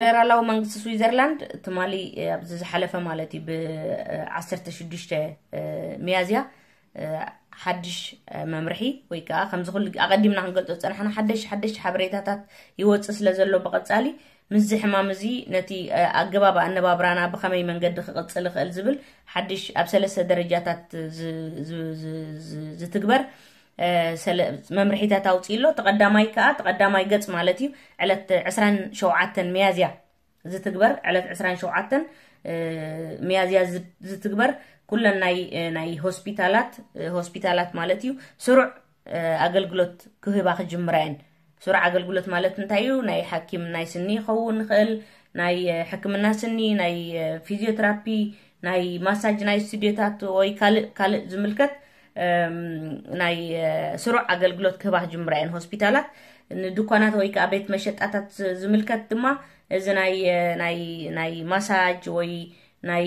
ፈደራላዊ መንግስቲ ስዊዘርላንድ ትማሊ ኣብዚ ዝሓለፈ ማለት እዩ ብ ዓሰርተ ሽዱሽተ ሚያዝያ ሓድሽ መምርሒ ወይ ከዓ ከምዚ ኩሉ ኣቐዲምና ክንገልፆ ዝፀናሕና ሓደሽ ሓደሽ ሓበሬታታት ይወፅእ ስለ ዘሎ ብቐፃሊ ምስዚ ሕማም እዚ ነቲ ኣገባብ ኣነባብራና ብኸመይ መንገዲ ክቕፅል ይኽእል ዝብል ሓድሽ ኣብ ሰለስተ ደረጃታት ዝትግበር መምርሒታት ኣውፅኡ ኣሎ እቲ ቀዳማይ ከዓ እቲ ቀዳማይ ገፅ ማለት እዩ ዕለት ዕስራን ሸውዓተን ሚያዝያ ዝትግበር ዕለት ዕስራን ሸውዓተን ሚያዝያ ዝትግበር ኩለን ናይ ናይ ሆስፒታላት ሆስፒታላት ማለት እዩ ስሩዕ ኣገልግሎት ክህባ ክጅምራ እየን ሱር ኣገልግሎት ማለት እንታይ እዩ? ናይ ሓኪም ናይ ስኒ ይኸውን ይኽእል፣ ናይ ሕክምና ስኒ፣ ናይ ፊዚዮትራፒ፣ ናይ ማሳጅ ናይ ስቱድዮታት ወይ ካልእ ካልእ ዝምልከት ናይ ስሩዕ ኣገልግሎት ክህባ ክጅምራ እየን ሆስፒታላት ንድኳናት ወይ ከዓ ቤት መሸጣታት ዝምልከት ድማ እዚ ናይ ናይ ናይ ማሳጅ ወይ ናይ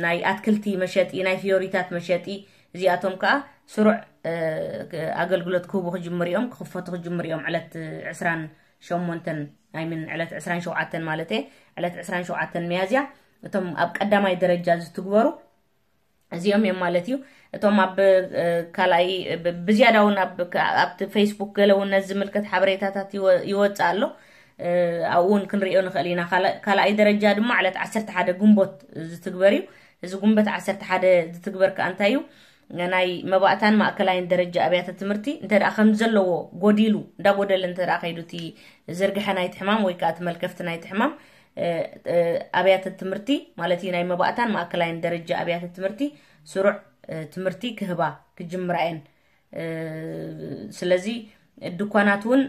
ናይ ኣትክልቲ መሸጢ ናይ ፍዮሪታት መሸጢ እዚኣቶም ከኣ ስሩዕ ኣገልግሎት ክህቡ ክጅምሩ እዮም ክኽፈቱ ክጅምሩ እዮም ዕለት ዕስራን ሸሞንተን ኣይምን ዕለት ዕስራን ሸውዓተን ማለት እየ ዕለት ዕስራን ሸውዓተን መያዝያ እቶም ኣብ ቀዳማይ ደረጃ ዝትግበሩ እዚኦም እዮም ማለት እዩ እቶም ኣብ ካልኣይ ብዝያዳ እውን ኣብቲ ፌስቡክ ገለ እውን ነዚ ዝምልከት ሓበሬታታት ይወፅእ ኣሎ ኣብኡ እውን ክንሪኦ ንኽእል ኢና ካልኣይ ደረጃ ድማ ዕለት ዓሰርተ ሓደ ግንቦት ዝትግበር እዩ እዚ ጉንበት ዓሰርተ ሓደ ዝትግበር ከኣ እንታይ እዩ? ናይ መባእታን ማእከላይን ደረጃ ኣብያተ ትምህርቲ እንተ ከም ዘለዎ ጎዲሉ እንዳጎደለ እንተ ከይዱ እቲ ዝርግሐ ናይቲ ሕማም ወይ ከዓ እቲ መልከፍቲ ናይቲ ሕማም ኣብያተ ትምህርቲ ማለት እዩ ናይ መባእታን ማእከላይን ደረጃ ኣብያተ ትምህርቲ ስሩዕ ትምህርቲ ክህባ ክጅምራ እየን ስለዚ ድኳናት እውን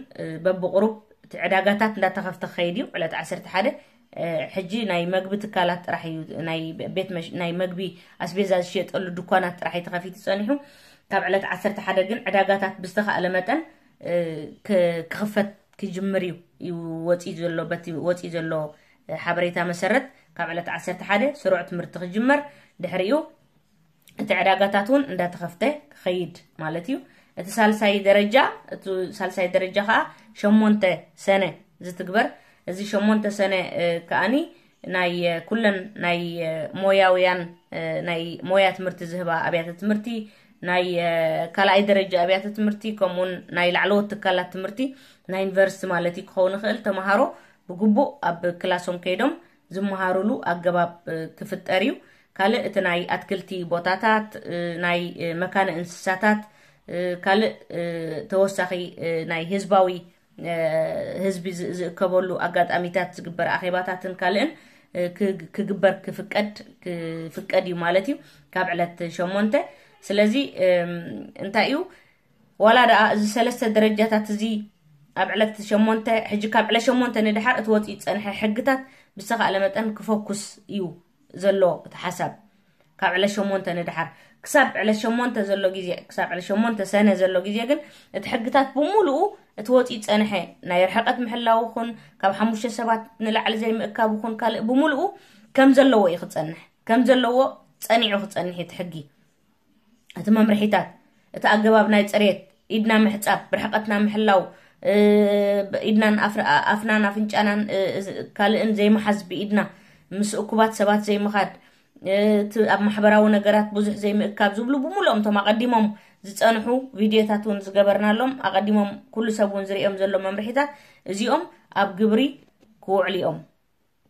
በብቕሩብ እቲ ዕዳጋታት እንዳተኸፍተ ክኸይድ እዩ ዕለት 11 ሕጂ ናይ መግቢ ትካላት ጥራሕ እዩ ናይ መግቢ ኣስቤዛ ዝሽየጠሉ ድኳናት ጥራሕ እዩ ተኸፊቱ ፀኒሑ ካብ ዕለት 11 ግን ዕዳጋታት ብዝተኻእለ መጠን ክኽፈት ክጅምር እዩ እዩ ወፂኡ ዘሎ በቲ ወፂኡ ዘሎ ሓበሬታ መሰረት ካብ ዕለት 11 ስሩዕ ትምህርቲ ክጅመር ድሕሪኡ እቲ ዕዳጋታት እውን እንዳተኸፍተ ክኸይድ ማለት እዩ እቲ ሳልሳይ ደረጃ እቲ ሳልሳይ ደረጃ ከዓ ሸሞንተ ሰነ ዝትግበር እዚ ሸሞንተ ሰነ ከዓኒ ናይ ኩለን ናይ ሞያውያን ናይ ሞያ ትምህርቲ ዝህባ ኣብያተ ትምህርቲ ናይ ካልኣይ ደረጃ ኣብያተ ትምህርቲ ከምኡውን ናይ ላዕለዎት ትካላት ትምህርቲ ናይ ዩኒቨርሲቲ ማለት እዩ ክኸውን ይኽእል ተምሃሮ ብግቡእ ኣብ ክላሶም ከይዶም ዝመሃሩሉ ኣገባብ ክፍጠር እዩ። ካልእ እቲ ናይ ኣትክልቲ ቦታታት፣ ናይ መካነ እንስሳታት፣ ካልእ ተወሳኺ ናይ ህዝባዊ ህዝቢ ዝእከበሉ ኣጋጣሚታት ዝግበር ኣኼባታትን ካልእን ክግበር ክፍቀድ ክፍቀድ እዩ ማለት እዩ ካብ ዕለት ሸሞንተ ስለዚ እንታይ እዩ ዋላ ደኣ እዚ ሰለስተ ደረጃታት እዚ ኣብ ዕለት ሸሞንተ ሕጂ ካብ ዕለት ሸሞንተ ንድሓር እቲ ወፂኡ ዝፀንሐ ሕግታት ብዝተኻእለ መጠን ክፈኩስ እዩ ዘሎ እቲ ሓሳብ ካብ ዕለት ሸሞንተ ንድሓር ክሳብ ዕለት ሸሞንተ ዘሎ ግዜ ክሳብ ዕለት ሸሞንተ ሰነ ዘሎ ግዜ ግን እቲ ሕግታት ብምሉኡ እቲ ወፂኡ ዝፀንሐ ናይ ርሕቐት ምሕላው ኹን ካብ ሓሙሽተ ሰባት ንላዕሊ ዘይምእካብ ኹን ካልእ ብምልኡ ከም ዘለዎ እዩ ክፀንሕ ከም ዘለዎ ፀኒዑ ክፀንሕ እቲ ሕጊ እቲ መምርሒታት እቲ ኣገባብ ናይ ፅሬት ኢድና ምሕፃብ ብርሕቐትና ምሕላው ኢድናን ኣፍናን ኣፍንጫናን ካልእን ዘይመሓዝ ብኢድና ምስ እኩባት ሰባት ዘይምኻድ እቲ ኣብ ማሕበራዊ ነገራት ብዙሕ ዘይምእካብ ዝብሉ ብምሉኦም እቶም ኣቐዲሞም ዝፀንሑ ቪድዮታት እውን ዝገበርናሎም ኣቐዲሞም ኩሉ ሰብ እውን ዝርኦም ዘሎ መምርሒታት እዚኦም ኣብ ግብሪ ክውዕሉ እዮም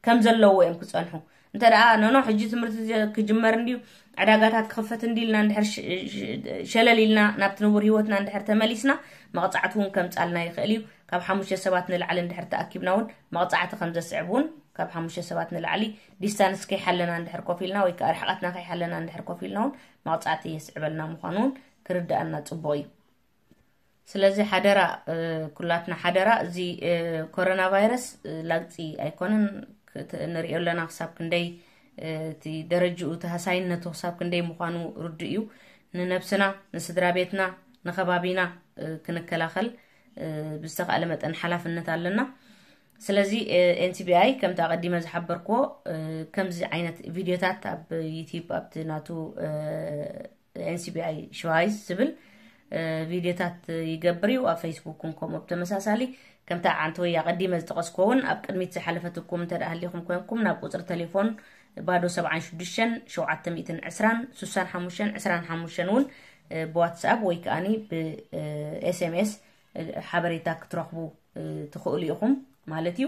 ከም ዘለዎ እዮም ክጸንሑ እንተ ደኣ ኖኖ ሕጂ ትምህርቲ ክጅመር እንድዩ ዕዳጋታት ክኽፈት እንዲ ኢልና እንድሕር ሸለል ኢልና ናብቲ ንቡር ሂወትና እንድሕር ተመሊስና መቕጻዕቲ እውን ከምጻልና ይኽእል እዩ ካብ ሓሙሽተ ሰባት ንላዕሊ እንድሕር ተኣኪብና እውን መቕጻዕቲ ከም ዘስዕብ እውን ካብ ሓሙሽተ ሰባት ንላዕሊ ዲስታንስ ከይሓለና እንድሕር ኮፍ ኢልና ወይ ከዓ ርሕቐትና ከይሓለና እንድሕር ኮፍ ኢልና እውን መቕጻዕቲ የስዕበልና ምዃኑ እውን ክርድኣና ጽቡቕ እዩ ስለዚ ሓደራ ኩላትና ሓደራ እዚ ኮሮና ቫይረስ ላግፂ ኣይኮነን ንሪኦ ኣለና ክሳብ ክንደይ እቲ ደረጅኡ ተሃሳይነቱ ክሳብ ክንደይ ምዃኑ ርዱእ እዩ ንነብስና ንስድራ ቤትና ንከባቢና ክንከላኸል ብዝተኻእለ መጠን ሓላፍነት ኣለና ስለዚ ኤንሲቢኣይ ከምቲ ኣቐዲመ ዝሓበርክዎ ከምዚ ዓይነት ቪድዮታት ኣብ ዩትብ ኣብቲ ናቱ NCBI Schweiz ዝብል ቪድዮታት ይገብር እዩ ኣብ ፌስቡክ ን ከምኡ ብተመሳሳሊ ከምታ ዓንቲ ወይ ኣቐዲመ ዝጠቐስኮ እውን ኣብ ቅድሚት ዝሓለፈትኩም እንተ ሃሊኹም ኮንኩም ናብ ቁፅሪ ቴሌፎን ባዶ 76 720 65 25 እውን ብዋትስኣፕ ወይ ከዓኒ ብኤስኤምኤስ ሓበሬታ ክትረኽቡ ትኽእሉ ኢኹም ማለት እዩ